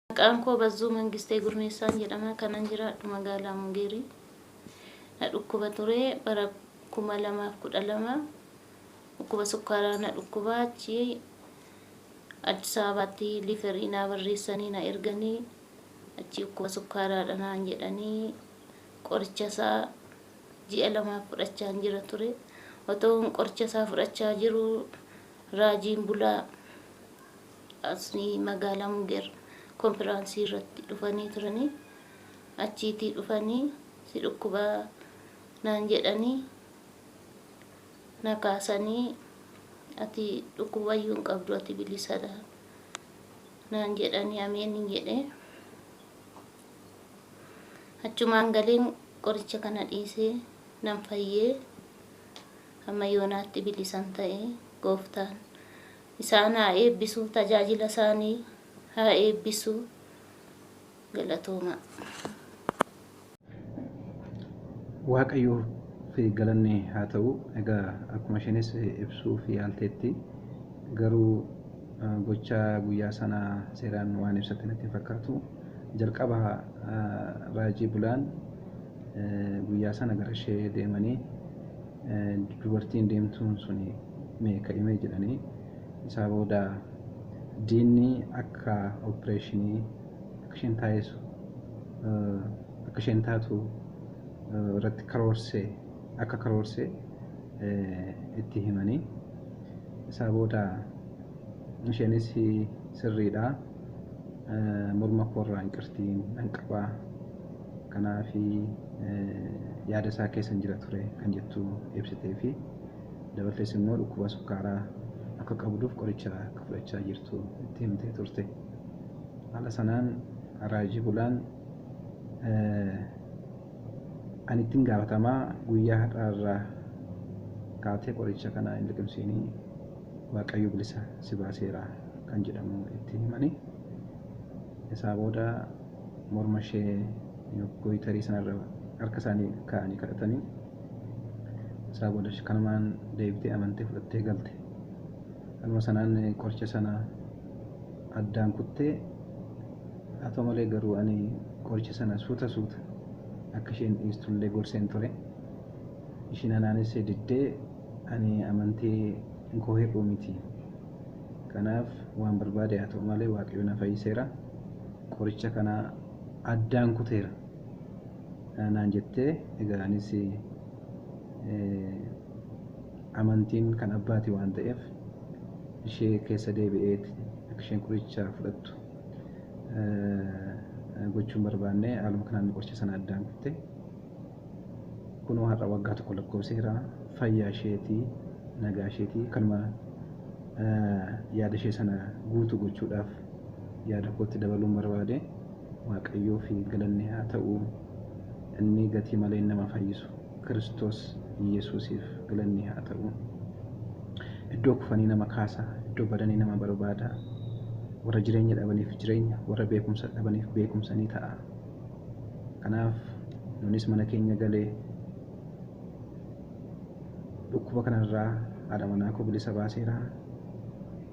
Maqaan koo Bazzuu Mangistee Gurmeessaan jedhama. Kanan jiraadhu magaalaa Mungeerii. Na dhukkuba ture bara 2012 dhukkuba sukkaaraa na dhukkuba achi Addis Ababaatti liiferii naa barreessanii na erganii achi dhukkuba sukkaaraadha naan jedhanii qoricha isaa ji'a lamaaf fudhachaan jira ture. Otoo qoricha isaa fudhachaa jiru raajiin bulaa Asni magaalaa Muger konfiraansii irratti dhufanii turanii achiitii dhufanii si dhukkubaa naan jedhanii na kaasanii ati dhukkubayyuu hin qabdu ati bilisadha naan jedhanii ameenin jedhe achumaan galeen qoricha kana dhiisee nan fayyee amma yoonaatti bilisan ta'e gooftaan Isaan haa eebbisu, tajaajila isaanii haa eebbisu. Galatoomaa. Waaqayyoof galanni haa ta'u. Egaa akkuma isheenis ibsuuf yaalteetti garuu gocha guyyaa sanaa seeraan waan ibsatte natti hin fakkaatu. Jalqaba raajii bulaan Guyyaa sana garashee deemanii dubartiin deemtuun suni mee ka'imee jedhanii isaa booda diinni akka oppireeshinii akka isheen taa'eessu akka isheen taatu irratti karoorsee akka karoorsee itti himanii isaa booda isheenis sirriidha morma koorraa inqirtii nan qabaa Kanaaf yaada isaa keessa hin jira ture kan jettu ibsitee fi dabaltees immoo dhukkuba sukkaaraa akka qabduuf qoricha akka fudhachaa jirtu itti himtee turte. Haala sanaan Raaji Bulaan ani ittin gaafatamaa guyyaa har'aa irraa kaatee qoricha kana hin liqimsiinii Waaqayyo bilisa si baaseera kan jedhamu itti himani. Isaa booda morma ishee gooyitarii sanarra harka isaanii kaa'anii kadhatanii isaa booda kanumaan deebitee amantee fudhattee galte. Haluma sanaan qoricha sana addaan kuttee haa ta'u malee garuu ani qoricha sana suuta suuta akka isheen dhiistullee gorseen ture. Ishiin anaanis diddee ani amantii koo hir'uu miti. Kanaaf waan barbaade haa ta'u malee waaqayyo na fayyiseera. qoricha kana addaan kuteera naan jettee egaa anis amantiin kan abbaati waan ta'eef ishee keessa deebi'ee akka isheen qoricha fudhattu gochuun barbaanne haaluma kanaan qoricha sana addaan kutte. Kunoo har'a waggaa tokko lakkoofseera. Fayyaa isheeti, nagaa isheeti. Kanuma yaada ishee sana guutuu gochuudhaaf yaada kootti dabaluun barbaade. Waaqayyoo fi galanni haa ta'u. Inni gatii malee nama fayyisu Kiristoos Yesuusiif galanni haa ta'u. Iddoo kufanii nama kaasa, iddoo badanii nama barbaada. Warra jireenya dhabaniif jireenya, warra beekumsa dhabaniif beekumsa ni ta'a. Kanaaf nunis mana keenya galee dhukkuba kanarraa haadha manaa koo bilisa baaseera.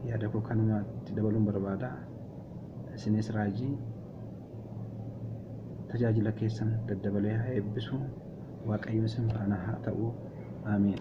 Yaada koo kanuma itti dabaluun barbaada. Isinis raajii tajaajila keessan daddabalee haa eebbisu. Waaqayyo isin faana haa ta'u. Ameen.